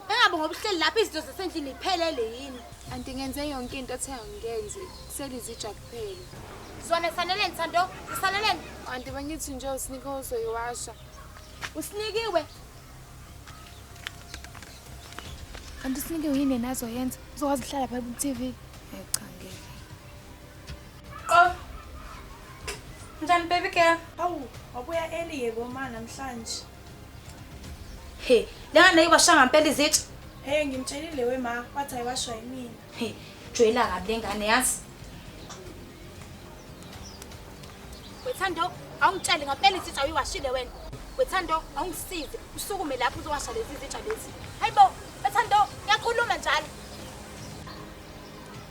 Engabe ngoba uhleli lapha izinto zasendlini iphelele yini? Anti ngenze yonke into othe angikenzi. Kusele izitsha kuphela. Zona saneleni Thando, zisaneleni. Anti bengithi nje usinike uzoyiwasha. Usinikiwe. Kanti usinike yini yena azoyenza? Uzokwazi ukuhlala phaya ku-TV? Hayi cha ngeke. Qof. Njani baby girl? Awu, wabuya early yebo ma namhlanje. He, lengane nayo bashanga ngempela izitsha. Hey ngimtshelile we ma, wathi ayiwashwa yimina. He, joyela kabi lengane yazi. Wethando, awungitsheli ngempela izitsha uyiwashile wena. Wethando, awungisize usukume lapho uzowasha lezi zitsha lezi. Hayibo, wethando, ngiyakhuluma njalo.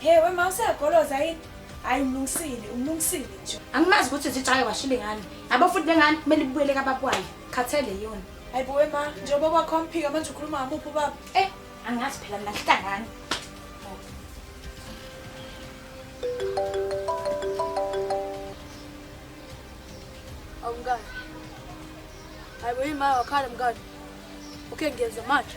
Hey wema useyagoloza yini? Hayi umlungisile, umlungisile nje. Angimazi ukuthi zitshaye washile ngani. Yabo futhi bengani kumele ibuyele kababwayo. Khathele yona. Hayi bo wema, njengoba kwakho mphika manje ukhuluma ngamuphi ubaba? Eh, angazi phela mina ngihlangani. Awumkani. Hayi bo yima wakhala mkani. Okay ngiyenza manje.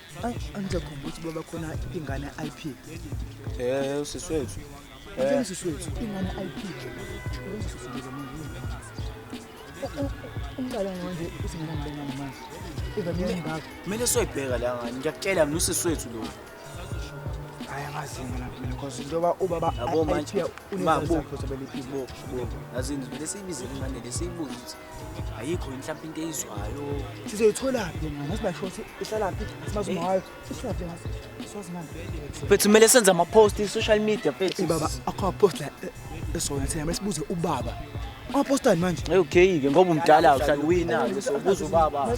angijakhumba ukuthi baba khona ingane ip um usisi wethu usisi wethu ingane ip umqala manje usingenambona manje ivamile ngakho kumele soyibheka la ngani ngiyakutshela mina usisi wethu lo hayi angazi mina mina cause njengoba ubaba yabo manje mabubo yazi ngizibele siyibizele ingane lesiyibuze ayikho yini mhlawumbe into eyizwayo sizoyitholaphi yena ngathi bashoti ihlalaphi simazi uma wayo ihlalaphi ngathi siwazi ngani mfethu kumele senze amapost i-social media mfethu baba akho amapost la esona thina mase sibuze ubaba amapost ani manje okay-ke ngoba umdala uhlala uwina-ke so buza ubaba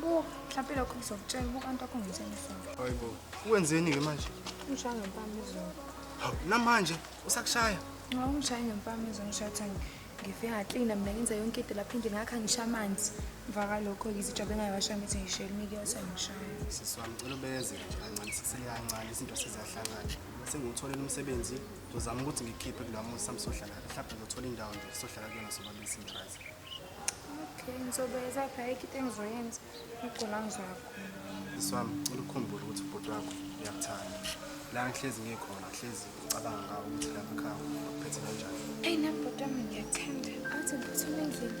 Bo, mhlawumbe lokho ngizokutshela ubuka into akho ngenzeni isonto. Hayi bo. Wenzeni ke manje? Ngishaya ngempama izolo. Hawu, namanje usakushaya? Nxa ungishaya ngempama izolo ngishaya ukuthi angi- ngife ngaklina mina ngenza yonke into lapha endlini ngakha ngisha amanzi. Emva kwalokho izijobe engayibasha ngithi ngishayela imikiyasa ngishaya. Sisi wami ngicela ubeze nje kancane sisele kancane izinto seziyahlangana. Sengutholele umsebenzi, ngizozama ukuthi ngikhiphe kula muzi sami sohlala. Mhlawumbe ngizothola indawo nje sohlala kuyona soba besingazi. Okay, ngizobeza phela ikhiphe engizoyenza. Ngigcina ngizoyakhona. Iswami, cela ukukhumbule ukuthi ubhuti wakho uyakuthanda. La ngihlezi ngikhona, ngihlezi ngicabanga ngawe ukuthi la makhaya uphethe kanjani. Eyi nami bhuti wami ngiyakuthanda. Athi ngiphuthume endlini.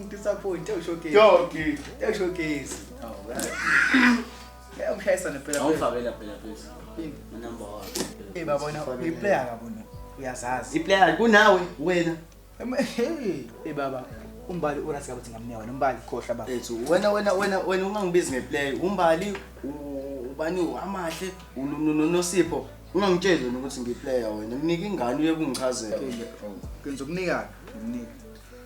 Ngisaphoyinti ewushokezi. Yogi. Ewushokezi. Oh, right. Eh umshayisa nempela. Awufakela phela phezulu. Yini? Number 1. Eh babona uyiplayer kabona. Uyazazi. Iplayer kunawe wena. Hey, eh baba. Umbali urasi kabuthi ngamnewa wena umbali khohla baba. Ethu wena wena wena wena ungangibizi ngeplayer. Umbali ubani amahle unosipho. Ungangitsheli wena ukuthi ngiplayer wena. Nginike ingane uye kungichazela. Ngizokunika. Nginika.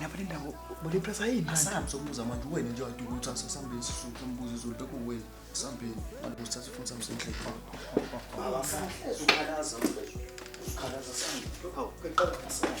Ngapha indawo bole press ayini? Asambe sokubuza manje wena nje wathi ukuthi asasambeni sisuke umbuzo izolo lokho wena asambeni manje usithatha ifoni sami senhle. Baba sahleza ukhalaza ukhalaza sami. Hawu qala asami.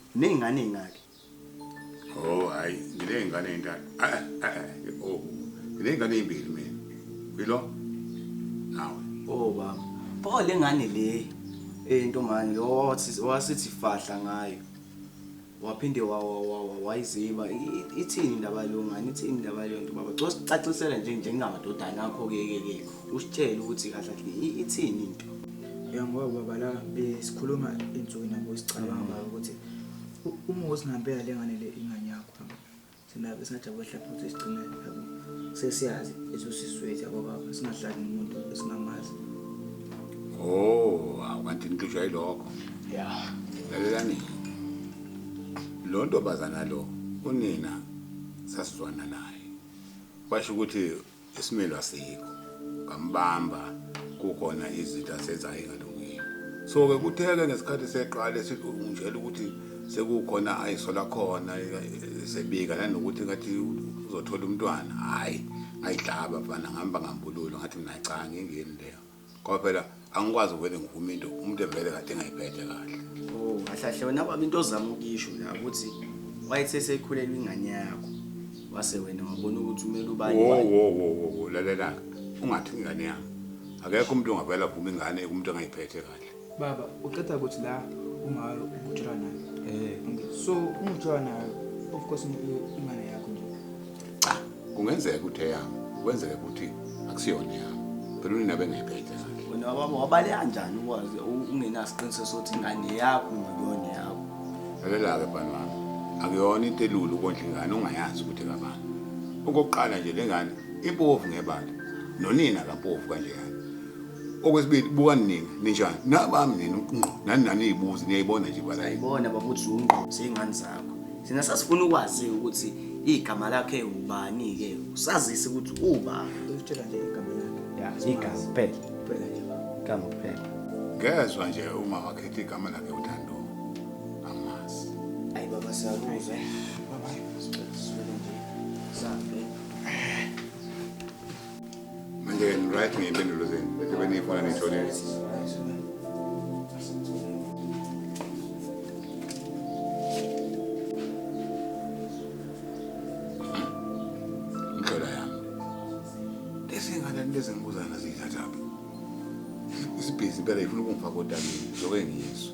Nezingane ezingaki? Oh hayi, nginezingane ezintathu. Ah, ah, ah, oh. Nginezingane ezimbili mina. Uyilo? Nawe. Oh baba. Pho lengane le entombane lo wathi wasithi fahla ngayo. Waphinde wa wa wa wa- wayiziba I- i- ithini indaba lo ngane ithini indaba le nto baba. Cos cacisela nje njengamadodana akho ke ke ke. Usitshele ukuthi kahle kahle i- ithini into. Ya ngoba baba la besikhuluma insuku nabo sicabanga baba ukuthi u- uma usingempela le ngane le ingane yakho yabo. Thina besingajabula hlapha ukuthi sigcine yabo. Sesiyazi ezosiswethu yabo baba singahlali nomuntu esingamazi. Oh, awu, kanti nixutshwa yilokho. Ya. Lalelani. Lo ntombazana lo unina sasizwana naye. Washo ukuthi isimelo asikho ngambamba kukhona izinto asezayengalungile so-ke kutheke ngesikhathi seqala esingitshela ukuthi sekukhona ayisola khona sebika nanokuthi ngathi uzothola umntwana hhayi ngayihlaba mfana ngihamba ngambululo ngathi mina cha ngingeni leyo Ngoba phela angikwazi uvele ngivume into umuntu evele kade engayiphethe kahle. Oh, kahlahle wena baba into ozama ukuyisho la ukuthi wayethe sekhulelwe ingane yakho. Wase wena wabona ukuthi umele ubani. Wo wani. wo wo wo wo lalela-ke ungathi ingane yami. Akekho umuntu ongavele avume ingane kumuntu engayiphethe kahle. Baba, uqeda ukuthi la ungayo ukujula nayo. Eh. So ungijula nayo of course ingane yakho nje. Cha, kungenzeka ukuthi eyami. Kwenzeka ukuthi akusiyona yami. Phela unina bengayiphethe sakhe. Wena baba wabale kanjani ukwazi ungenasiqiniseko sokuthi ingane yakho ngiyona yakho. Lalela-ke bani wami. Akuyona into elula ukondla ingane ungayazi ukuthi kabani. Okokuqala nje lengane impofu ngebala. Nonina kampofu kanjeyana. Okwesibili buka nina ninjani nabami nina ngqo nani nani ibuzi niyayibona nje bala ayibona babuthi ungqo seyingani zakho sina sasifuna ukwazi ukuthi igama lakhe ubani ke usazise ukuthi uba utshela nje igama lakhe ya igama phela phela nje igama phela ngezwe nje uma wakhetha igama lakhe uthando amas ayi baba siyakuze baba sibona nje sabe Manje-ke ni-right ngey'mpendulo zenu bese beniyifuna niyitholile. Mhlola yami. Lezi ngane lezi ngibuzana ziyithathaphi. Isibhizi impela ifuna ukungifaka odabeni, zoke ngiyizwe.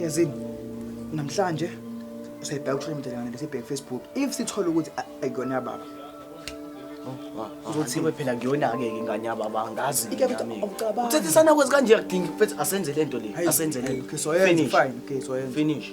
Yazini namhlanje siyabheka ukushola umdala kanti sibheke Facebook. If sithola ukuthi ayikona yababa. Uzothiwe phela ngiyonake ke ingane yababa angazi ngiyami. Uthethisana kwezi kanje yakudinga mfethu asenze lento le asenze lento. Okay so finish. Fine okay so finish.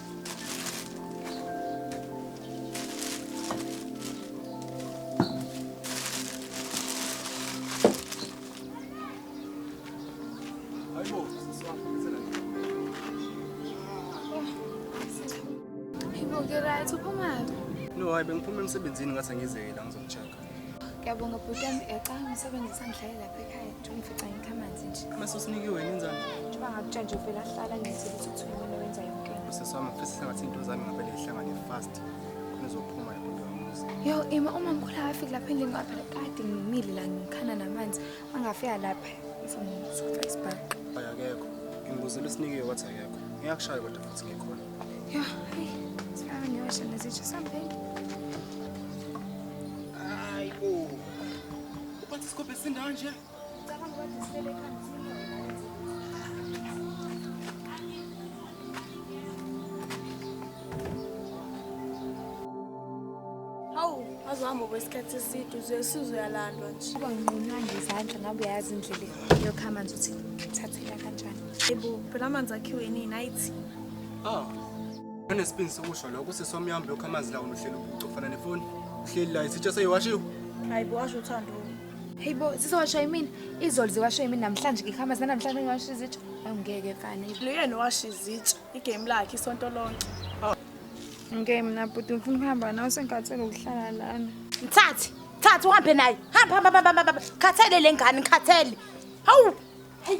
hayi bengiphuma emsebenzini ngathi angizeki la ngizokucheka. Ngiyabonga bhuti yami, uyacabanga umsebenzi usangidlalela lapha ekhaya. Ungifica ngikhamanzi nje. Mase usinike wena inzalo. Njengoba ngakutshela nje uvele ahlala ngithi ukuthi uthi wena wenza yonke into. Sisi wami ngifisa sengathi into zami ngavele ihlangane fast. Khona uzophuma lapho ngiyomuzi. Yo, Ima uma ngikhula afike lapha endlini ngoba phela kade ngimile la ngikhana namanzi. Angafika lapha ngizomsuka isibhaqa. Hayi akekho. Ngibuzela usinikiwe wathi akekho. Ngiyakushaya kodwa futhi ngikhona. Yo, hey, sifana ngiyosha nezitsha sambeni. Hayi bo. Ubathi Scope sindawo nje. Cabanga ukuthi sibele ekhanda uzohamba kwesikhathi eside uzoyesizwe uyalandwa nje uba nginqunywa ngezandla ngabe uyayazi indlela yokha amanzi ukuthi ngithathela kanjani ebo phela amanzi akhiwe nini ayithi oh Unesibindi sokusho lokho usisi wami uhambe lokho amanzi lawo nohlelo ucofana nefoni. Uhleli la isitsha seyiwashiwe. Hayi bo washo uthando. Hey bo sisowasha imini izolo ziwasha imini namhlanje ngikhamba zina namhlanje ngiwasha izitsha. Hayi ngeke fana. Luyena owasha izitsha igame lakhe isonto lonke. Ngeke mina bhuti ngifuna ukuhamba nawe sengikhathele ukuhlala lana. Mthathi, thathi uhambe naye. Hamba hamba hamba hamba, hamba. Khathele lengane, ngikhathele. Hawu. Hey.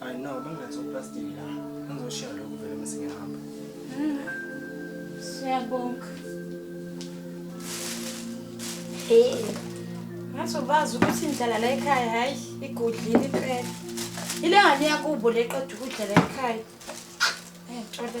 Hayi no, bengilethe uplastic la. Ngizoshiya lokhu vele mase ngihamba. Siyabonga. Hey. Ngathi ubazi ukuthi indlala la ekhaya hayi igudlile impela. Ile ngane yakubo leqeda ukudla la ekhaya. Eh, tshole.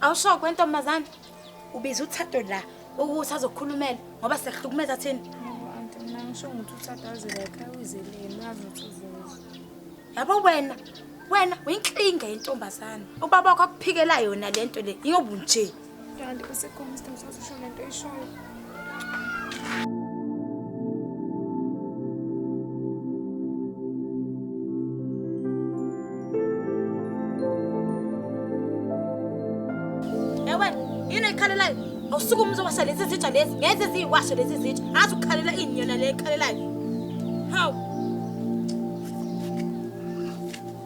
Awushokwe ntombazane. Ubiza uThato la ukuthi azokhulumela ngoba sekuhlukumeza thina. Anti mina ngisho ukuthi uThato azele ekhaya uzeleni wazi ukuthi uzoza. Yabo wena wena uyinkinga yentombazane. Ubaba wakho akuphikela yona lento le. Ingobu nje. Kanti bese khona isidingo sokuthi usho le nto oyishoyo. usuke umuntu owasha lezi zitsha lezi ngeze ziyiwashe lezi zitsha azi ukukhalela ini yona le ekhalelayo hawu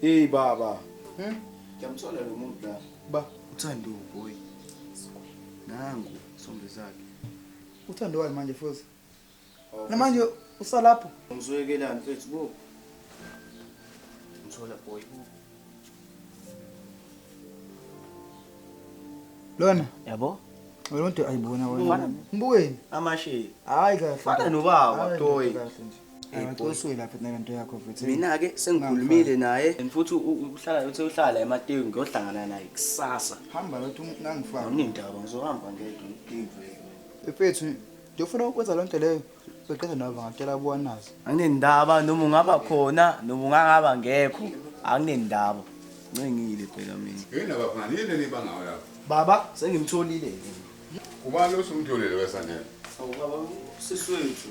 Hey baba. Hmm? Ngiyamthola lo muntu la. Ba uthando boy. Nangu sombe zakhe. Uthando wayo manje futhi. Oh, Namanje usalapho. Ngizwekelani mfethu bo. Ngithola boy bo. Lona. Yabo? Wena umuntu ayibona wena. Ngibukeni. Amashe. Hayi kahle. Fana nobaba toy. mina-ke sengikhulumile naye and futhi uhlala uthi uhlala emateku ngiyohlangana naye kusasa nindaba ngizohamba ngedwa mfethu ndiyofuna ukwenza loo nto leyo beqeda nabo bangatshela kuwanazi anginendaba noma ungaba khona noma ungangaba ngekho anginendaba ncengile phela mina yini laba phana yini enibangawo lapho baba sengimtholile ubani losumtholile wesanele awubaba siswethu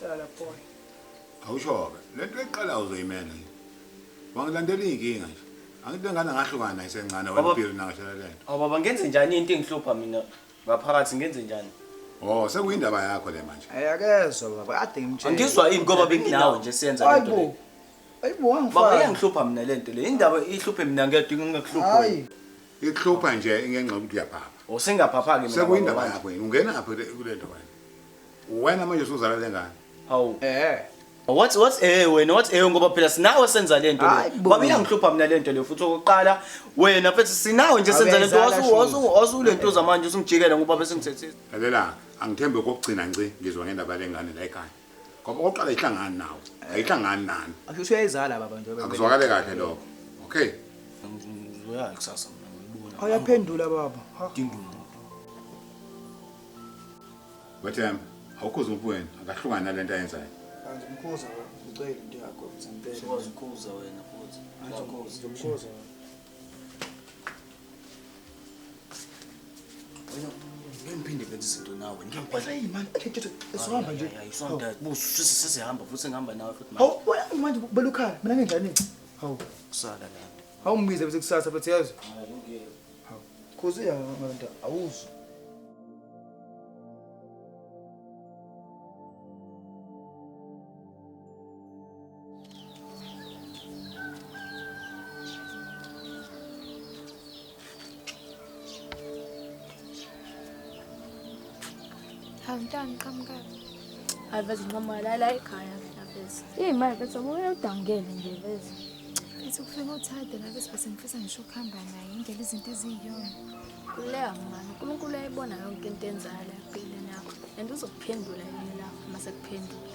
Hlala boy. Awushoke. Lento eqala uzoyimela nje. Wangilandela inkinga nje. Angithi ngane ngahlukana naye sencane Baba- wampilo nangashala lento. Awu baba ngenze njani into engihlupha mina ngaphakathi ngenze njani? Oh, sekuyindaba yakho le manje. Ayakezwa baba kade ngimtshela. Angizwa yini ngoba benginawe nje siyenza lento le. Hayibo. Hayibo Baba wangifaka. iyangihlupha mina lento le. Indaba ihluphe mina ngedwa ingekuhluphi. Hayi. Ikuhlupha nje ingenxa ukuthi uyaphapha. Usingaphapha kimi. Sekuyindaba yakho yini? Ungena apha kule nto wena. Wena manje usuzala lengane. Hawu. Eh. What what eh wena what eh ngoba phela sinawe senza lento le. Baba iyangihlupha mina lento le futhi okokuqala wena futhi sinawe nje senza lento wasu wasu wasu lento zamanje usingijikela ngoba bese ngithethisa. Lalela angithembe kokugcina nci ngizwa ngendaba lengane la ekhaya. ngoba okokuqala ayihlangani nawe ayihlangani nani asho ukuthi uyayizala baba njengoba akuzwakale kahle lokho okay ngizoya kusasa mina ngibona awuyaphendula baba Ha. dinga umuntu wethemba awukhuza umuntu wena akahlukani nale nto ayenzayo Kanti umkhuza ngicela into yakho ngempela. Sikwazi ukukhuza wena futhi. Ngizomkhuza. sesihamba futhi ngihamba nawe futhi manje ubela ukhala mina nginjani hawu kusala la hawu mbize bese kusasa futhi yazi hawu khosi ya manje awuzi Hawumntana uqhamukayo. Hayi veze nqoma la la ekhaya mina veze. Hey manje veze ubuye udangele nje veze. Ethi kufika uthade la bese bese ngifisa ngisho ukuhamba naye indlela izinto eziyiyona. Kuleka mama, uNkulunkulu uyayibona yonke into enzayo la empilweni yakho and uzokuphendula yini la uma sekuphendula.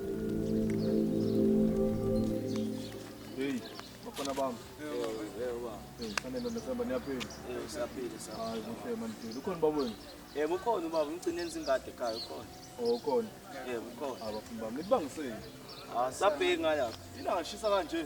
ukhona ubaba umgcine enzingade ekhaya ukhona oh ukhona yebo ukhona abafundi bami nibangiseni ah sabheki ngala ilanga shisa kanje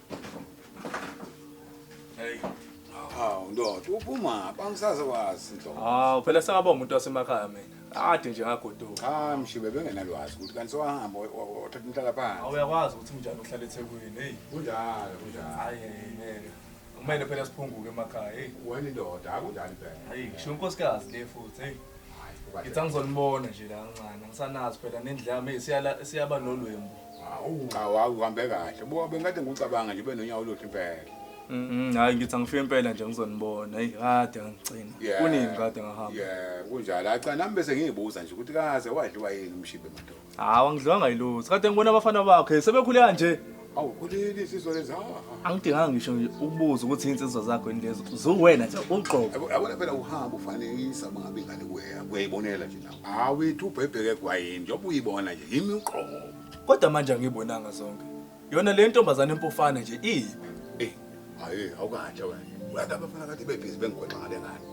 Hawu ndoda uphuma bangisaze wazi ndoda. Hawu phela sengaba umuntu wasemakhaya mina. Ade nje ngagoduka. Cha mshibe bengenalwazi ukuthi kanti sewahamba wa- wa- wathatha umhlala phansi. Awuyakwazi ukuthi unjani uhlala eThekwini. Hey, Kunjalo kunjalo. hayi ngeke. Kumele phela siphunguke emakhaya. Hey, Wena indoda akunjani phela. hayi ngisho unkosikazi le futhi. Hey, Hayi, ngithi angizonibona nje la kancane. Angisanazi phela nendlame siyala siyaba nolwembu. Hawu. Cha wawu uhambe kahle. Bo bengade ngikucabanga nje benonyawo oluhle impela. Mhm, hayi ngithi angifike impela nje ngizonibona. Hey, kade ngangicina. Yeah. Kunini kade ngahamba? Yeah, kunjalo. Hayi cha nami bese ngiyibuza nje ukuthi kaze wadliwa yini umshibe madoda. Hawu angidlwanga yilutho. Kade ngibona abafana bakho hey, sebekhule kanje. Awu kuleli sizwe lezi. hawu. Angidinganga ngisho nje ukubuza ukuthi insizwa zakho yini lezo. Zuwena nje uqobo. Yabo- Yabona phela uhamba ufanekisa mangabe ingane kuye. Uyayibonela nje nawe. Awethu ubhebheke egwayini njengoba uyibona nje yimi uqobo. Kodwa manje angiyibonanga zonke. Yona le ntombazane empofana nje iyiphi? Ey, hayi awukahle wena. Uyazi abafana kade bebhizi bengigwexa ngale ngane.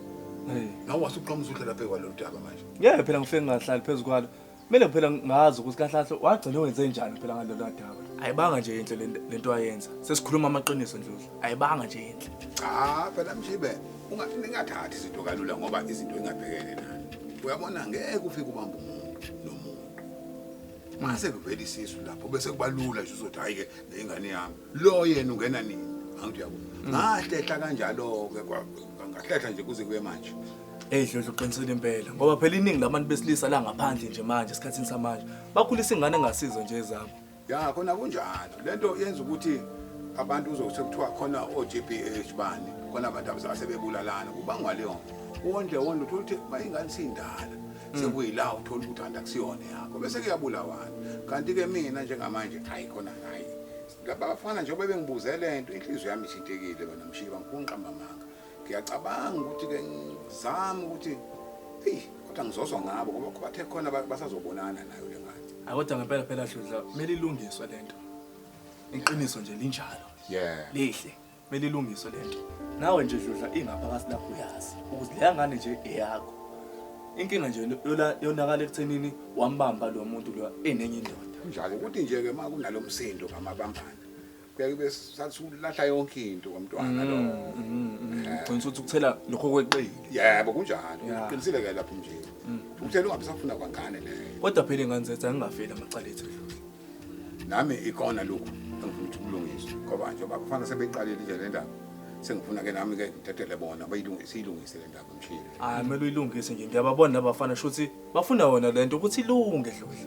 Hey. Nawe wasuqoma usuhlela phezu kwalolu daba manje. Ngeke phela ngifike ngingahlali phezu kwalo. Kumele phela ngazi ukuthi kahle kahle wagcina wenze njani phela ngalolu daba. Ayibanga nje inhle le nto- le nto ayenza. Sesikhuluma amaqiniso Ndlovu. Ayibanga nje inhle. Cha phela mshibe ungathi ningathathi izinto kalula ngoba izinto ingabhekene nani uyabona ngeke ufike ubamba umuntu nomuntu mase kuvela isisu lapho bese kubalula nje uzothi hayi-ke neyingane yami lo yena ungena nini angithi yabo mm. ngahlehla kanjalo-ke ngahlehla nje kuze kube manje Hey Dlodlo uqinisile impela ngoba phela iningi labantu besilisa la ngaphandle nje manje esikhathini samanje bakhulisa ingane engasizo nje ezabo ya khona kunjalo lento yenza ukuthi abantu uzokuthe kuthiwa khona o-GBH bani khona abantu abazaba sebebulalana kubangwa leyo nto wondle wondle uthola ukuthi uma ingane siyindala Mm. sekuyila uthola ukuthi kanti akusiyona yakho bese kuyabulawana kanti-ke mina njengamanje hayi khona hayi laba bafana njengoba bengibuze le nto inhliziyo yami ithintekile bana mshiba ngikhona ngiqamba amanga ngiyacabanga ukuthi-ke ngizame ukuthi eyi kodwa ngizozwa ngabo ngoba bathe khona ba- basazobonana nayo le ngane Hayi, kodwa ngempela phela dludla kumele ilungiswe le nto iqiniso nje linjalo yeah lihle kumele ilungiswe le nto nawe nje dludla ingaphakathi lapho uyazi ukuthi leya ngane nje eyakho inkinga nje yola- yonakala ekuthenini wambamba lo muntu lo enenye indoda kunjalo ukuthi nje-ke uma kunalo msindo ngamabambana kuyaye kube sathi ulahla yonke into kwamntwana lo gcina ukuthi ukuthela lokho kweqile yebo kunjalo Yeah. uqinisile ke lapho mnje ukuthela ungabe safuna kwangane leyo kodwa phela ingane zethu angingafeli amacala ethu edlule nami ikona lokhu engifuna ukuthi kulungiswe ngoba njengoba kufana sebeyiqalile nje le ndaba sengifuna ke nami ke ngidedele bona bayilungi- siyilungise le ndaba mshile hayi kumele uyilungise nje ngiyababona labafana shuthi bafuna wona le nto ukuthi ilunge dludla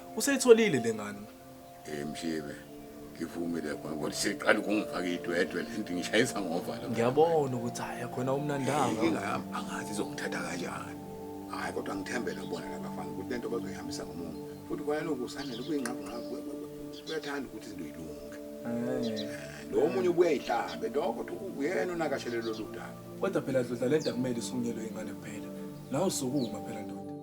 Useyitholile le ngane. Eh Mshibe, ngivumile ngoba siqala ukungifaka idwedwe lento ngishayisa ngovalo. Ngiyabona ukuthi haya khona umnandanga. Inkinga yami angazi izongithatha kanjani. Hayi kodwa ngithembele kubona labafana ukuthi lento bazoyihambisa ngomumo. Futhi kwaloku usanele kuyinqabu nqabu kuyathanda ukuthi izinto yilunge. Eh. Lo munye ubuye ihlabe lokho ukuthi uyena onakashelelo lodaba. Kodwa phela dlodla lento akumele isungelwe ingane kuphela. Nawe sukuma phela ndoda.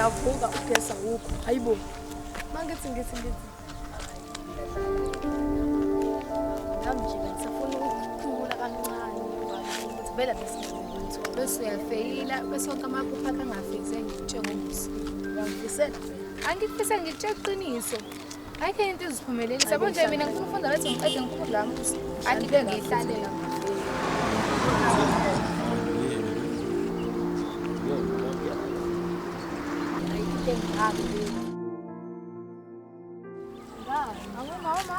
ngiyavuka ugesa wukho hayi bo uma ngithi ngithi ngithi nami nje bengisafuna ukukhulula kancane ukuthi vele besingamuntu bese uyafeyila bese wonke amaphupho akhe angafezi engikutshengomsi angifisele angikufise ngikutshela iqiniso ayikho into iziphumelelisa yabo nje mina ngifuna ufunda bethi ngiqede ngikhulu lami ukuthi angibe ngiyihlalela Mama, mama.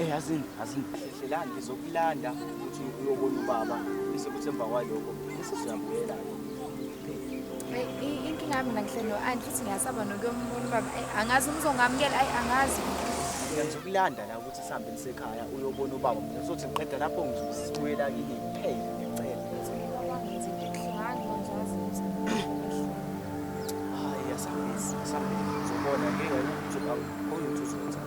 Eh yazini, yazini. Hlelani ngizokulanda ukuthi uyobona ubaba bese kuthi emva kwaloko bese siyabuyela. Inkinga yami nangihle no anti futhi ngiyasaba nokuyombona ubaba. Angazi umzongamukela, ayi angazi. Ngizokulanda la ukuthi sihambe nisekhaya uyobona ubaba. Ngizothi ngiqeda lapho ngizobuyela kini kuphela ngicela. Hayi yasabisi, yasabisi. Uzobona ngeke ukuthi awukhona ukuthi uzokwenza.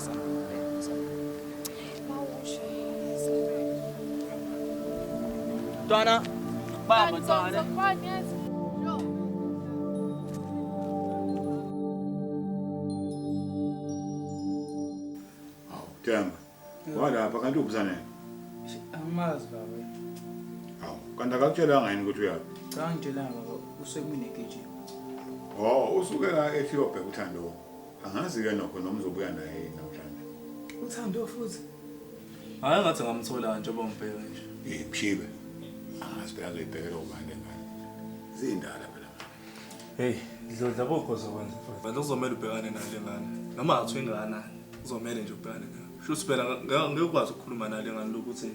Donna, Mama, Donna. Temba, walapha kanti ubuza nini? Angimazi baba. Hawu, kanti akakutshelanga yini ukuthi uyaphi? Cha ngitshelanga baba, usekunegejini. Oh, usuke la ethi uyobheka uthando. Angazi ke nokho noma uzobuya naye namhlanje. Uthando futhi. Hayi ngathi ngamthola nje bombheka nje. Eh mshibe. Angazi phela zoyibhekela ubani ngani. Zindala phela. Hey, ngizodla kokho zokwenza futhi. Manje kuzomela ubhekane nale ngane. Noma athi ingane kuzomela nje ubhekane nayo. Shuthi phela ngeke ukwazi ukukhuluma nale ngane lokuthi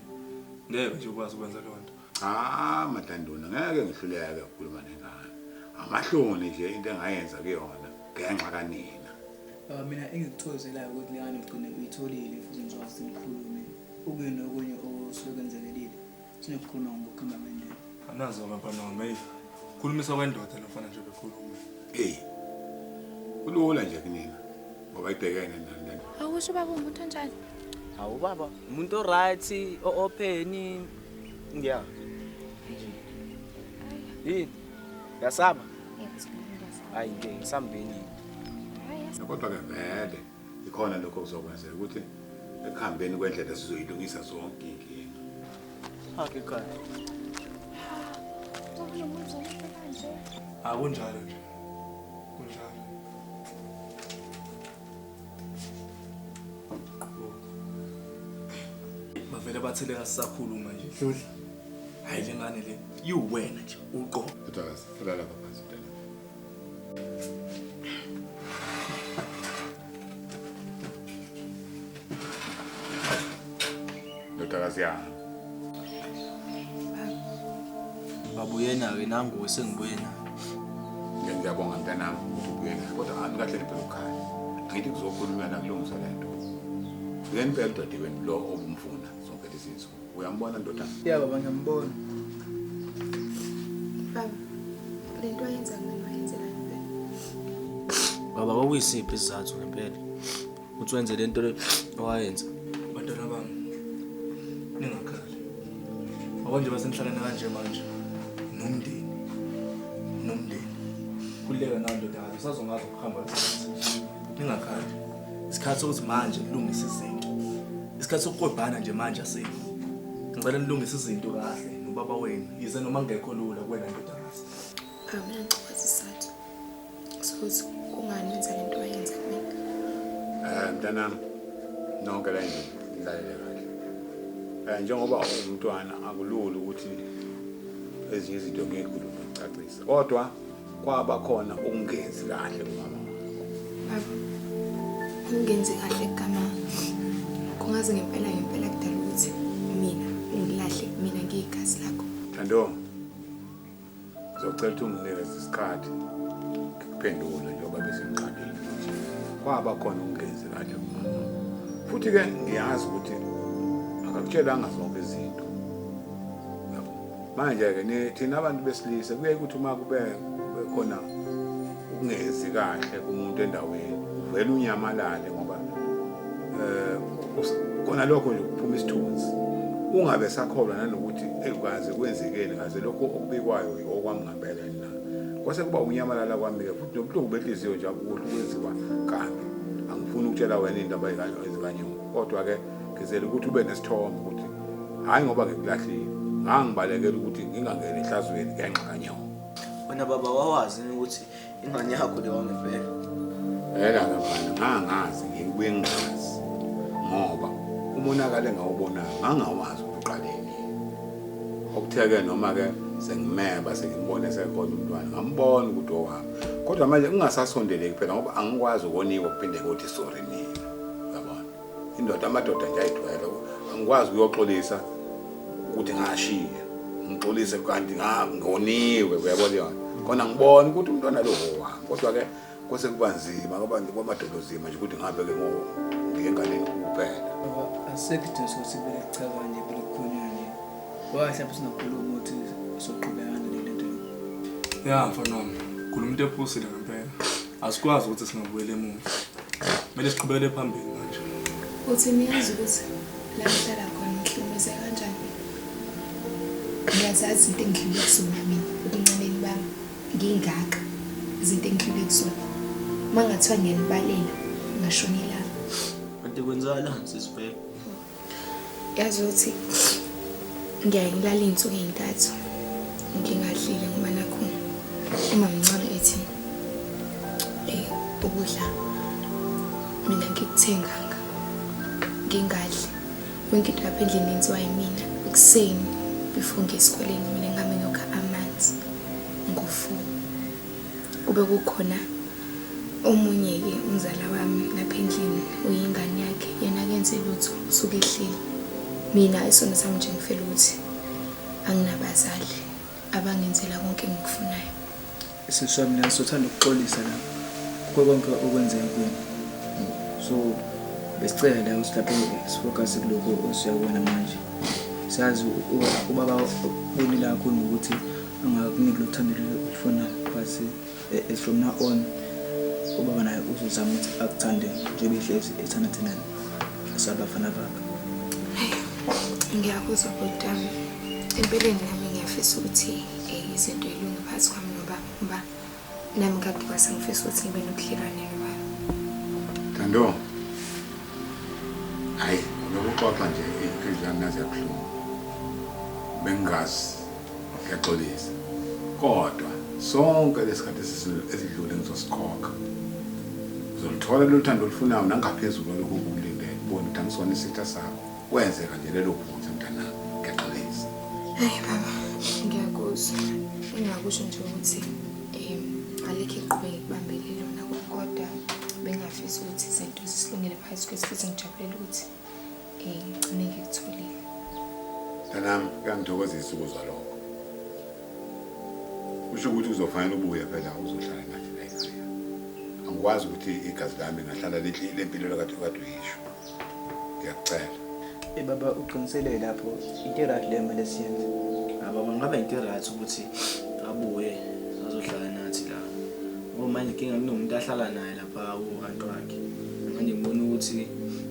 ngeke nje ukwazi ukwenza leyo nto. Cha madanduna ngeke ngihluleke ukukhuluma nengane. Amahloni nje into engayenza kuyona ngenxa kanina. Baba mina engikuthokozelayo ukuthi lengane ugcine uyitholile futhi ngizowazi ukuthi nikhulume. Okunye nokunye osuke kwenzekelile sinokukhuluma ngokuhamba kwendlela. Anazo abantwana wami eyi. Khulumisa kwendoda lomfana nje bekhuluma. Eyi. Kulula nje kunina ngoba ibhekene nani lento. Awusho baba umuntu onjani? Hawu baba, umuntu o-right, o-open, Ngiya. Yini? Yasaba? Hayi nje ngisambeni. Kodwa ke vele ikhona lokho kuzokwenzeka ukuthi ekuhambeni kwendlela sizoyilungisa zonke inkinga. Hakhe khaya. Akunjalo nje. Kunjalo. Bavele bathele kasisakhuluma nje. Dludla. Hayi le ngane le. Yiwena nje uqobo. Dodakazi, hlala lapha phansi mntana. ndodakazi yami babu yena-ke nanguwe sengibuye nayo Ngiya- ngiyabonga mntanami ukuthi ubuye nayo kodwa hhambi kahle niphela ukhaya angithi kuzokhulunywa nakulungisa le nto uye niphela udadewenu lo obumfuna zonke lezi nsuku uyambona ndoda ya baba ngiyambona Baba, le nto ayenza mina wayenzelani baba? baba kwakuyisiphi isizathu ngempela uthi wenze lento le owayenza bantwana bami ningakhali akwanje basenhlalana kanje manje nomndeni nomndeni kuleka nayo ndoda kazi usazongazi ukuhamba ningakhali isikhathi sokuthi manje kulungisa izinto isikhathi sokukwebhana nje manje asikho ngicela nilungise izinto kahle nobaba wenu yize noma ngekho lula kuwena ndodakazi mntanami nonke la endlini nilalele kahle um njengoba ungumntwana akulula ukuthi ezinye izinto ngeke kulula ukucacisa kodwa kwaba khona ukungenzi kahle kumama wakho ukungenzi kahle kugama kungaze ngempela ngempela kudala ukuthi mina ungilahle mina ngiyigazi lakho thando Ngizocela ukuthi unginikeze isikhathi ngikuphendule njengoba bese ngiqalile ukuthi kwaba khona ungenzi kahle kumama. Futhi ke ngiyazi ukuthi akakutshelanga zonke izinto. Manje ke thina abantu besilisa kuye ukuthi uma kube khona ukungezi kahle kumuntu endaweni uvele unyamalale ngoba eh kona lokho nje kuphuma isithunzi ungabe sakholwa nanokuthi ekukaze kwenzekeni ngaze lokho okubikwayo okwamngambela na kwase kuba unyamalala kwami-ke futhi nobuhlungu benhliziyo nje akukuhle kwenziwa kabi angifuni ukutshela wena indaba ezikanyoni kodwa-ke ngizele ukuthi ube nesithombe ukuthi hhayi ngoba ngikulahlile ngangibalekela ukuthi ngingangeni ehlazweni ngenxa kanyoko Wena baba wawazi yini ukuthi ingane yakho le wangempela? Yena ke mfana ngangazi ngibuye ngingazi ngoba umonakalo engawubonayo ngangawazi ukuthi uqale nini. Okuthe-ke noma-ke sengimeba sengimbona esekhona umntwana ngambona ukuthi owami kodwa manje kungasasondeleki phela ngoba angikwazi ukoniwa kuphinde kuthi sorry mina. indoda amadoda nje ayithwele angikwazi ukuyoxolisa ukuthi ngashiya ngixolise kanti ngoniwe uyabona yona khona ngibona ukuthi umntwana lo wami kodwa ke kwase kuba nzima ngoba kwamadolo nzima nje ukuthi ngihambe ke ngo ngengane kuphela asekho isidingo sokuthi kube licabanye kube likhonyane ngoba mhlawumbe singakhuluma ukuthi soqhubekana nale nto ya mfana wami khuluma into ephusile ngempela asikwazi ukuthi singabuyela emuva Kumele siqhubekele phambili manje. Uthi niyazi ukuthi la ngihlala khona ngihlukumeze kanjani? Ngiyazazi into engidlule kusona mina ebuncaneni bami ngingaka izinto engidlule kusona. Uma ngathiwa ngiyanibalela ngashonelana. Kanti kwenzala sisibheke. yazi ukuthi ngiyaye ngilala iy'nsuku ey'ntathu ngingadlile ngoba nakho umamncane ethi um ukudla mina ngikuthenganga ngingadli yonke into lapha endlini yenziwa yimina ekuseni before ngiye esikoleni mina ngihambe ngiyokha amanzi ngofuku Kube kukhona omunye-ke umzala wami lapha endlini uyingane yakhe yena kenze lutho usuke ehleli mina isono sami nje ngifela ukuthi anginabazali abangenzela konke engikufunayo isisi sami naso uthanda ukuxolisa la kukho konke okwenzeka kuyena so besicela la ukuthi lapho sifocus kuloko osiyakubona manje sazi ubaba unilakho nokuthi angakuniki lo thando olufunayo but eh, eh, from now on ubaba naye uzozama ukuthi akuthande njengoba ehlezi ethanda thina sabafana bakhe ngiyakuzwa kodwami empeleni nami ngiyafisa ukuthi um izinto ilunge phakathi kwami nobaba ngoba Nami kade kwase ngifisa ukuthi ngibe nobudlelwane nobaba. Thando. Hayi, ngokuxoxa nje inhliziyo yami nazi yabuhlungu. Bengazi ngiyaxolisa. Kodwa sonke lesikhathi esidlule ngizosikhokha. Uzolithola lolu thando olufunayo nangaphezulu lokhu ukulindele. Ubone ukuthi angisona isitha sakho. Kwenzeka nje lelo phutha mntanami ngiyaxolisa. Hayi baba, ngiyakuzwa. Engakusho nje ukuthi um alikho iqhubeke kubambelele lona kodwa bengafisa ukuthi izinto zisilungele phansi kwesi futhi ngijabulela ukuthi um ngigcine ngikutholile. Mntanami kuyangithokozisa ukuzwa lokho. Kusho ukuthi uzofanele ubuye phela uzohlala nathi la ekhaya. Angikwazi ukuthi igazi lami ngahlala lihlile empilweni kade kade uyisho. Ngiyacela. Eh baba uqinisele lapho into right le mele siyenze. Ah baba ngabe into right ukuthi abuye azohlala nathi la. Ngoba manje inkinga kunomuntu ahlala naye lapha uhantu wakhe. Manje ngibona ukuthi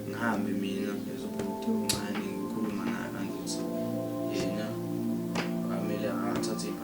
ngihambe mina ngizobhuti uncane ngikhuluma naye kanti ukuthi yena amele athathe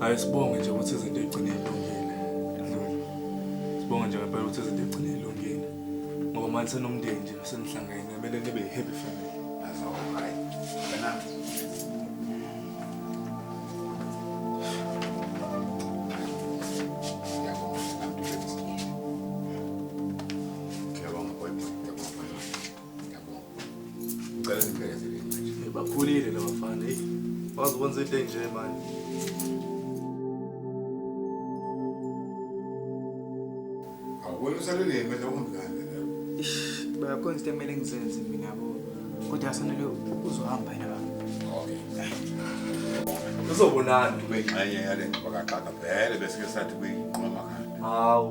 Hayi sibonge nje ukuthi izinto egcine ilungile. Sibonge nje ngempela ukuthi izinto egcine ilungile. Ngoba manje senomndeni nje senihlangene kumele nibe happy family. That's all right. Kana Ngicela niphelezeleni manje. Bakhulile laba bafana. Hey, wazi ukwenza into enje manje. Awubona usalele yemele ungilande la. Ish, bayakhona into emele ngizenze mina yabo. Kodwa asanele uzohamba yena baba. Okay. Uzobonana ube ingxenye yale ngxakaxaka vele bese ke sathi kuyinqoma khanda. Hawu.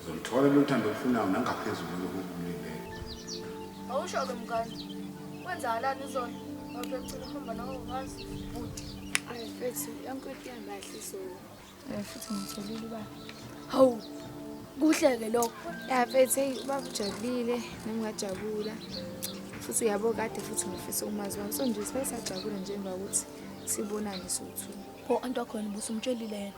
Uzoluthola lolu thando olufunayo nangaphezulu kulokhu okumlindele. Awusho-ke mngane, kwenzakalani izolo? Ngoba ekucina uhamba nawe ukwazi. Bhuti, ayi mfethu, yonke into ihamba kahle izolo. Eh, futhi ngitholile uba. Hawu, kuhle-ke lokho. Ya mfethu, heyi ubaba ujabulile, nami ngajabula. Futhi uyabo kade futhi ngifisa umazi wami. So nje sibe sajabule njengoba ukuthi sibonane sowu-two. Pho anti wakhona ubusumtshelile yena.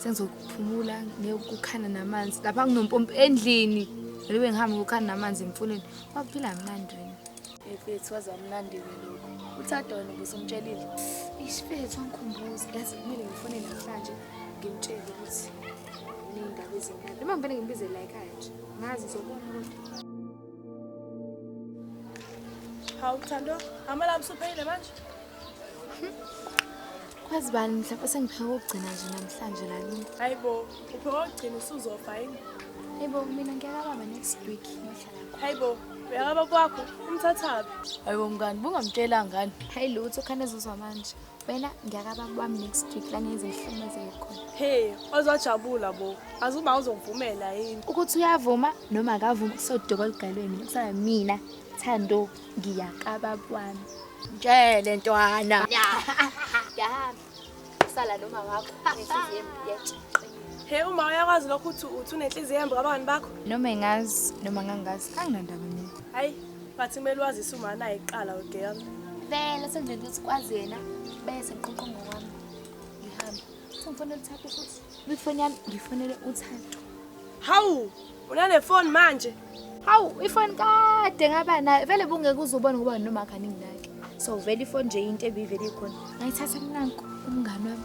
sengizokuphumula ngekukhana namanzi lapha nginompompi endlini ngibe ngihambe ngokukhana namanzi emfuleni kwakuphila mnandi wena efethu waze wamnandi-ke lokhu uthi adona ubusumtshelile isifethu wangikhumbuza yazi kumele ngifone namhlanje ngimtshele ukuthi ney'ndaba ezimnandi noma ngivele ngimbize la ekhaya nje ngazi zobona kodwa hawu thando amalabo usuphelile manje Kwazi bani mhlawumbe sengipheka ukugcina nje namhlanje lalini. Hayi bo, upheka ukugcina usuzofa yini? Hayi bo, mina ngiyakababa next week ngiyohlala khona. Hayi bo, uyakaba kwakho umthathaphi? Hayi bo mngani, bungamtshela ngani? Hayi lutho khane zozwa manje. Wena ngiyakaba kwami next week la ngenze ihluma zekhona. Hey, ozojabula bo. Azuba uzovumela yini? Ukuthi uyavuma noma akavumi kusodoko ligalweni mina kusaba mina. Thando. ngiyakababa wami mtshele ntwana yahamba sala noma wakho nenhliziyo yethu Hey uma uyakwazi lokho uthi uthi unenhliziyo embi kabani bakho? Noma engazi noma ngangazi anginandaba mina. Hayi, but kumele wazise uma naye iqala ugirl. Vele senzele ukuthi kwazi yena bese ngiqoqo ngokwami. Ngihamba. Sengifuna ukuthatha futhi. Ifoni yami ngifonele uThando. Hawu, unale phone manje. Hawu, ifoni kade ngaba nayo. Vele bungeke uzubona ngoba noma kaningi nake. So vele ifoni nje into ebivele ikhona. Ngayithatha nanku umngane wami.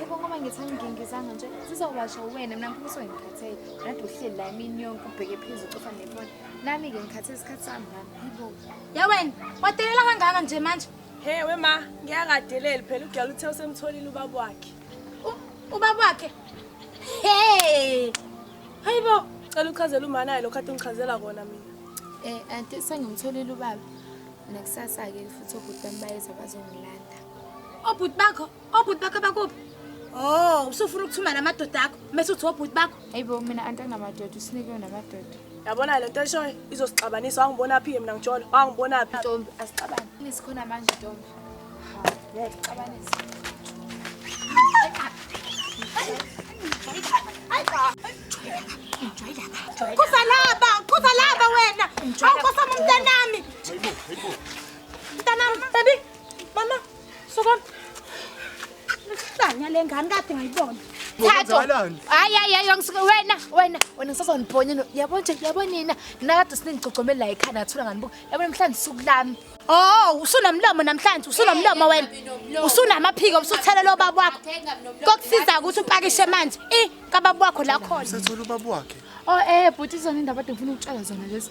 Yebo ngoba ngithi angingingizanga nje zizowasha wena mina ngifuna ukuthi ngikhathele nade uhleli la imini yonke ubheke phezulu ucofa nefoni nami-ke ngikhathe isikhathi sami nami yibo ye wena wadelela kangaka nje manje he we ma ngiyangadeleli phela ugala uthe usemtholile ubaba wakhe ubaba wakhe he hayi bo cela uchazela umanaye lokhu ade ungichazela kona mina um anti sengimtholile ubaba nakusasa-ke futhi obhuti bami bayeza bazongilanda obhuti bakho Obhuti bakho bakuphi? Oh, usufuna ukuthuma namadoda akho mase uthi obhuti bakho. Hayibo mina antanamadoda usinikwe namadoda. Yabona lento eshoyo izosixabanisa wangibona phi mina ngijolo wangibona phi. Ntombi asixabane. Nisikhona manje ntombi. Ha, ngiyacixabanisa. Kuza laba, kuza laba wena. Awukosa umntanami. Mntanami, baby. Mama. Suka. Isanya lengane kade ngayibona. Thatho. Hayi hayi hayi ngisuke wena wena wena sasonibhonya no. Yabo nje yabo nina. Nina kade siningigcogcomela la ekhaya nathula ngani buku. Yabo namhlanje suku lami. Oh, usunomlomo namhlanje, usunomlomo wena. Usunamaphiko usuthela lo baba wakho. Kokusiza ukuthi upakishe manje. I kababa wakho la khona. Sethola ubaba wakhe. Oh eh bhuti zona indaba ade ngifuna ukutshela zona lezi.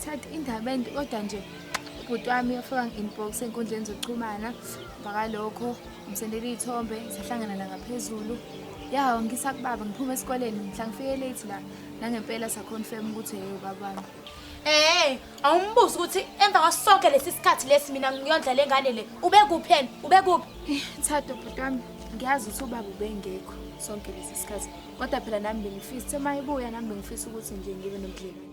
Thatha indaba ende kodwa nje ubhuti wami afika ngi-inbox enkundleni zokuxhumana bhaka lokho ngisendela iy'thombe sahlangana la ngaphezulu ya ngisa kubaba ngiphume esikoleni mhla ngifike late la nangempela saconfirm ukuthi yeye ubaba wami Eh, awumbuzi ukuthi emva kwasonke lesi sikhathi lesi mina ngiyondla lengane le. Ube kuphi yena? Ube kuphi? Eh, Thato bhuti wami ngiyazi ukuthi ubaba ubengekho sonke lesi sikhathi kodwa phela nami bengifisa uma ibuya nami bengifisa ukuthi nje ngibe nobudlelwane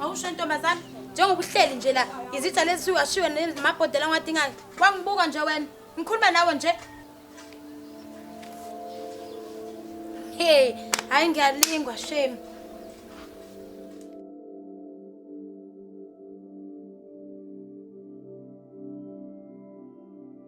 Awusho ntombazane njengoba uhleli nje la izitha lezi siwashiwe nemabhodela ngiwadingayo wangibuka nje wena ngikhuluma nawe nje hey hayi ngiyalingwa shame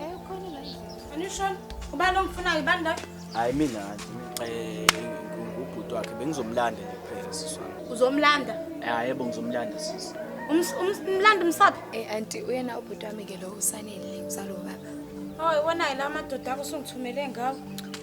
Eh ukhona la. Anishon, ubani omfunayo bani la? Hayi mina eh ngubhuti wakhe bengizomlanda nje kuphela siswa. Uzomlanda? Hayi yebo ngizomlanda sisi. Umlanda umsaphi? Eh anti uyena ubhuti wami ke lo usanele uzalo baba. Oh iwona la madoda akusungithumele ngawo.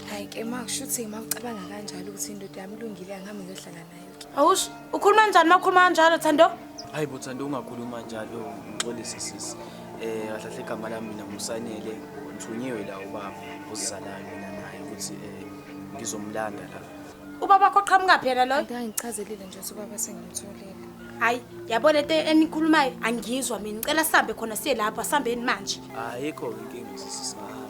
Hayi ke makushuthi ngimacabanga kanjalo ukuthi indoda yami ilungile angihambi ngiyohlala naye. Awush, ukhuluma njani makhuluma kanjalo Thando? Hayi bo Thando ungakhuluma njalo, ngixolise sisi. Eh kahle kahle igama lami mina ngusanele, ngithunyiwe la ubaba ozizalayo mina naye ukuthi eh ngizomlanda la. Ubaba wakho qhamuka phi yena loyo? Ngichazelile nje ukuthi ubaba sengimtholile. Hayi, yabona into enikhulumayo angizwa mina. Ngicela sihambe khona siye lapho, asihambeni manje. Ayikho inkinga sisi singahamba.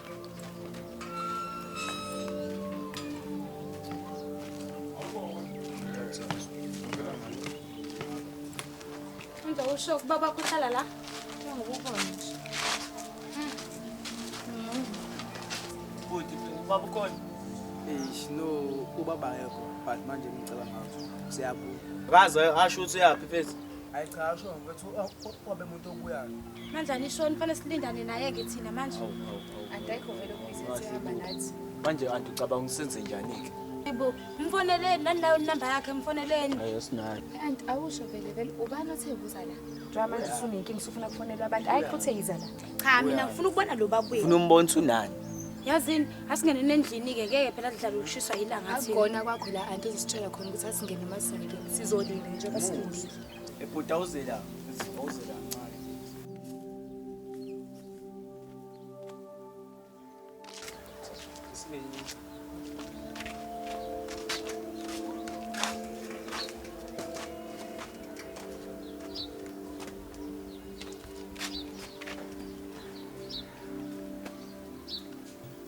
Mntu usho ukuba bakuhlala la? Njengokukhona nje. Bhuti, ubaba ukhona? Eish, no, ubaba ayekho. But manje ngicela ngazo. Siyabuya. Kaze asho ukuthi uyaphi mfethu? Hayi cha asho mfethu wabe muntu obuyayo. Manje anishoni fanele silindane naye ke thina manje. Andayikho vele kuyisenze hamba nathi. Manje anti ucabanga usenze njani ke? Yebo, mfoneleni nani nayo inamba yakhe mfoneleni. Hayi sinayo. Anti awusho vele vele ubani othe ubuza la? Njengoba manje usunenkinga usufuna kufonelwa abantu. Hayi futhi eyiza la. Cha mina ngifuna ukubona lo babuye. Ufuna umbona unani? Yazini asingene nendlini ke ngeke phela sidlala ukushiswa ilanga thina. Akugona kwakho la anti uzisitshela khona ukuthi asingene masingene. Sizolinda nje basilindile. Ebhuta uzela, uzela ncane.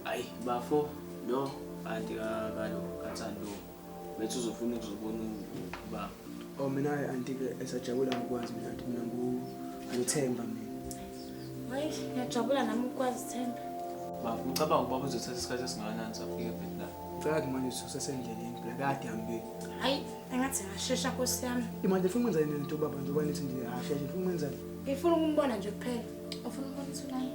Ay, bafo, no, anti ka, kalo, katsan, no. Bethi uzofuna ukuzobona ubaba. Oh mina anti ke esajabula ngokwazi mina anti mina ngithemba mina. Hayi ngiyajabula nami ukwazi Themba. Baba ngicabanga ukuba kuzothatha isikhathi esingakanani safika eBethlehem. Ngicela ke manje sisesendleleni phela kade hambile. Hayi engathi ngashesha Nkosi yami. Imanje ufuna ukwenza yini lento baba njengoba nithi nje hashesha ufuna ukwenza yini? Ngifuna ukumbona nje kuphela. Ufuna ukubona uthulani?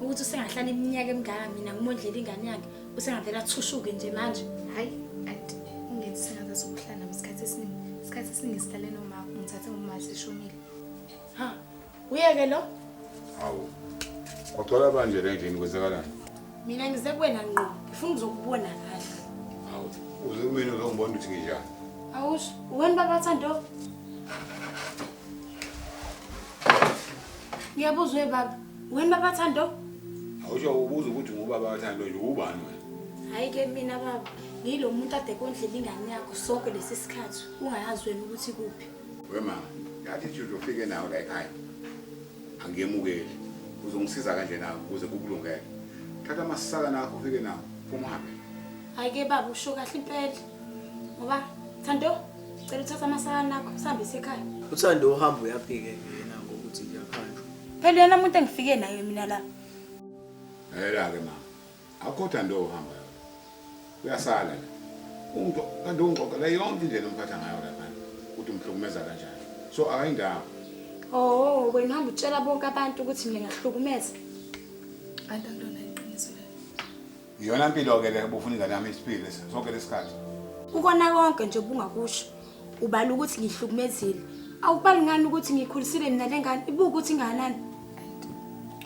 Ukuthi usengahlala iminyaka emingaka mina ngimondlela ingane yakhe. Usengavela thushuke nje manje. Hayi, anti ungethi singaza sokuhlala isikhathi esiningi. Isikhathi esiningi sihlale noma ngithathe ngomali sishonile. Ha, uyeke lo? Hawu. Kwagcwala banje le ndlini kwenzakalani? Mina ngize kuwena ngqo. Ngifuna ukuzokubona kahle. Hawu, uze kumina uzongibona ukuthi nginjani. Awusho, uweni baba Thando? Ngiyabuza uye baba. Wena baba Thando? Awusho ubuza ukuthi ngubaba Thando nje ubani wena? Hayi ke mina baba, ngilo muntu ade kondlela ingane yakho sonke lesi sikhathi ungayazi wena ukuthi kuphi. We mama, ngathi nje uzofike nawe la ekhaya. Angiyemukeli. Uzongisiza kanje nawe ukuze kukulungele. Thatha amasaka nakho ufike nawo, phuma uhambe. Hayi ke baba usho kahle impela. Ngoba Thando, cela uthatha amasaka nakho, sihambise ekhaya. Uthando uhamba uyaphike yena ngokuthi ngiyakhanjwa. Phela uyena umuntu engifike naye mina la. Hela ke mama. Akukho nto ohamba yona. Uyasala la. Umuntu kanti ungixoxela yonke indlela umphatha ngayo lapha. Ukuthi umhlukumeza kanjani. So akayindawo. Oh, wena hamba utshela bonke abantu ukuthi mina ngiyahlukumeza. Antanto Iyona mpilo ke le ubufuna ingane yami isiphile sonke lesikhathi. Kukona konke nje bungakusho. Ubala ukuthi ngihlukumezile. Awubali ngani ukuthi ngikhulisile mina lengane ibuka ukuthi inganani.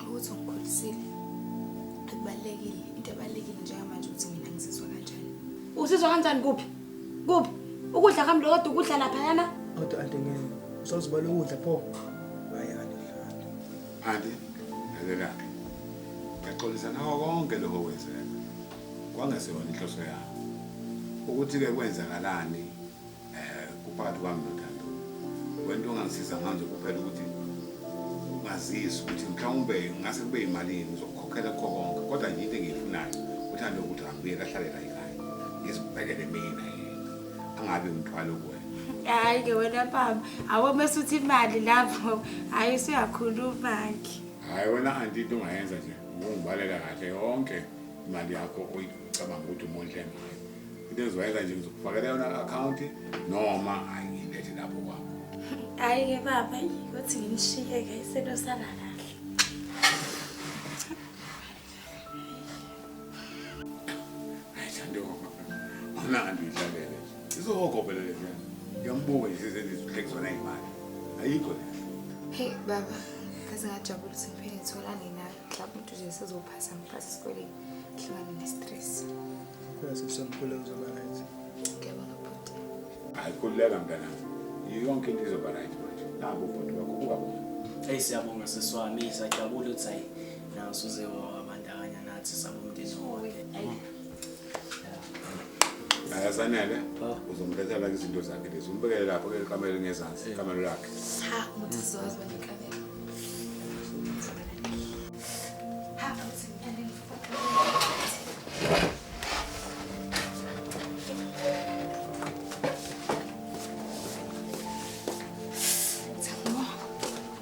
Ukuthi ngikhulisile. Akubalekile into ebalekile njengamanje ukuthi mina ngizizwa kanjani. Usizwa kanjani kuphi? Kuphi? Ukudla kamlo kodwa ukudla lapha yana. Kodwa anti ngeke. Usozibala ukudla pho. Phanti, lalela-ke. Ngiyaxolisa ngako konke lokho okwenzeka. Kwangeseyona inhloso yami. Ukuthi-ke kwenzakalani um kuphakathi kwami noThando. Wento ongangisiza ngayo nje kuphela ukuthi ungazisi ukuthi mhlawumbe ngase kube yimalini uzokukhokhela kukho konke kodwa nje into engiyifunayo uthando ukuthi angibuye kahlale la ekhaya ngizibhekele mina yena angabe umthwalo kuwena hayi ke wena baba awo mase uthi imali lapho hayi usuyakhuluma-ke hayi wena anti into ongayenza nje ukungibalela kahle yonke imali yakho oyicabanga ukuthi umondle ngayo into engizoyenza nje ngizokufakela yona akhawunti noma hayi ngilethe lapho kwakho hayi ke baba ukuthi nginishiye-ke isentosalala Mnandi idlalele. Izokokopela le nto. Ngiyambuka nje sezenizihlekiso nayimali. Ayikho le. Hey baba, kaze ngajabula ukuthi ngiphinde ngitholane nawe. Mhlawumbe umuntu nje sezophasa ngiphasa esikoleni. Ngihlangane ne-stress. Kodwa sekusamkhule uzoba right. Ngiyabona bhuti. Hayi kuleka mntanami. Yonke into izoba right manje. Naku bhuti wakho kuba bona. Hey siyabonga seswami, sajabula ukuthi hayi Nansu uze wabandakanya nathi sabomndeni wonke. Ayasanele uzomlethela izinto zakhe lezi umbekele lapho ke kamelo ngezansi kamelo lakhe. Cha muthi sizowazi wena kamelo. Ha awuthi ngithanda